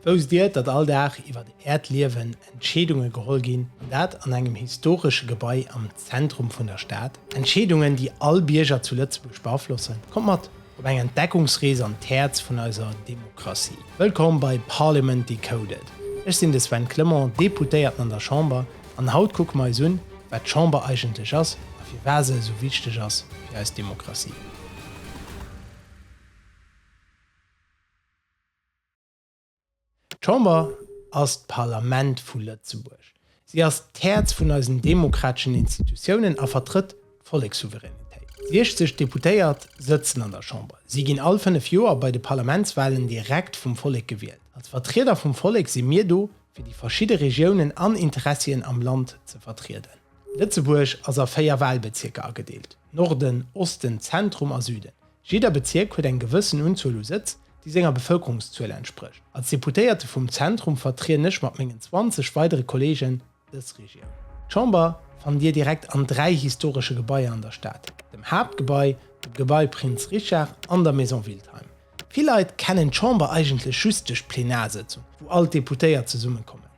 Wousst Dir, datt all Dag iwwert Äert Liewen Entscheedunge geholl ginn, an dat an engem historesche Gebai am Zentrum vun der Stad? Entscheedungen, déi all Bierger zu Lëtzebuerg beaflossen. Kommt mat op eng Entdeckungsrees an d'Häerz vun eiser Demokratie. Wëllkomm bei Parliament Decoded. Ech sinn de Sven Clement, Deputéierten an der Chamber, an haut kucke mer eis un, wat d'Chamber eigentlech ass a firwat se esou wichteg ass fir eis Demokratie. D'Chamber ass d'Parlament vu Lëtzebuerg. Si ass d'Häerz vun eisen demokrateschen Institutiounen a vertrëtt d'Vollekssouveränitéit. 60 Deputéiert sëtzen an der Chamber. Si ginn all fënnef Joer bei de Parlamentswalen direkt vum Vollek gewielt. Als Vertrieder vum Vollek si mir do, fir déi verschidde Regiounen an Interessien am Land ze vertrieden. Lëtzebuerg ass a véier Walbezierker agedeelt, Norden, Osten, Zentrum a Süden. Jidder Bezierk huet eng gewëssen Unzuel u Sëtz, déi senger Bevëlkerungszuel entsprécht. Als Deputéierte vum Zentrum vertrieden ech mat mengen 20 weidere Kolleegen dës Regioun. D'Chamber fannt Dir direkt an dräi historesche Gebaier an der Stad, dem Haaptgebai, dem Gebai Prinz Richard an der Maison Wildheim. Vill Leit kennen d'Chamber eigentlech just duerch d'Plenarsëtzung, wou all d'Deputéiert zesummekommen.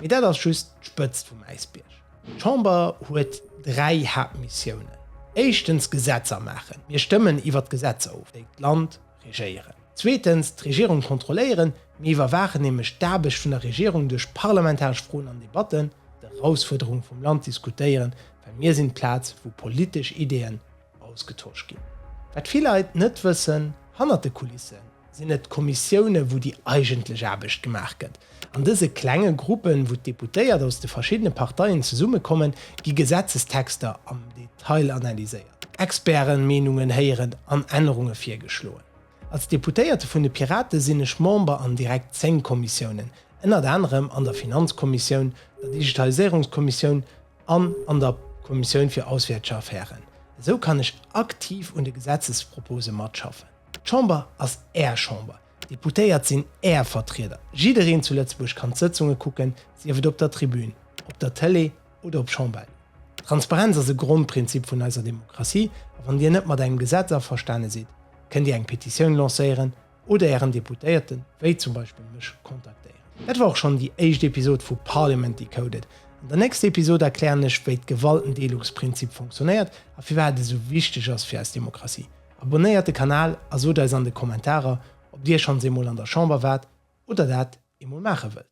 Mee dat ass just d'Spëtzt vum Äisbierg. D'Chamber huet dräi Haaptmissiounen. Éischtens Gesetzer maachen, mir stëmmen iwwer d'Gesetzer of, déi d'Land regéieren. Zweetens d'Regierung kontrolléieren, mir iwwerwaachen nämlech d'Aarbecht vun der Regierung duerch parlamentaresch Froen an Debatten, d'Erausfuerderunge vum Land diskutéieren, well mir sinn d'Plaz, wou politesch Ideeën, ausgetosch ginn. Wat vill Leit net wëssen, Hannert de Kulisse sinn et d'Kommissioune wou déi eigentlech Aarbecht gemaach gëtt. An dëse klenge Gruppen, wou d'Deputéiert aus de verschiddene Parteien zesummekommen, gi Gesetzestexter am Detail analyséiert, Expertenmeenungen héieren an Ännerunge virgeschloen. Als Deputéierte vun de Pirate sinn ech Member an direkt zéng Kommissiounen, ënnert anerem an der Finanzkommissioun, der Digitaliséierungskommissioun, an an der Kommissioun fir auswäertge Affären. Esou kann ech aktiv un de Gesetzespropose matschaffen. D'Chamber ass Är Chamber, d'Deputéiert sinn Är Vertrieder. Jiddereen zu Lëtzebuerg kann d'Sëtzunge kucken, sief et op der Tribün, op der Tëlee oder op Chambein. Transparenz ass e Grondprinzip vun eiser Demokratie a wann Dir net mat engem Gesetz averstane sidd, kënnt Dir eng Petitioun lancéieren, oder ären Deputéierten, wéi zum Beispill mech, kontaktéieren. Dat war och schonn déi éischt Episod vu Parliament Decoded. An der nächster Episod erklären ech, wéi d'Gewaltendeelungsprinzip funktionéiert a firwat et esou wichteg ass fir eis Demokratie. Abonéiert de Kanal a sot eis an de Kommentarer, ob dir schonns eemol an der Chamber waart oder dat eemol maache wëllt.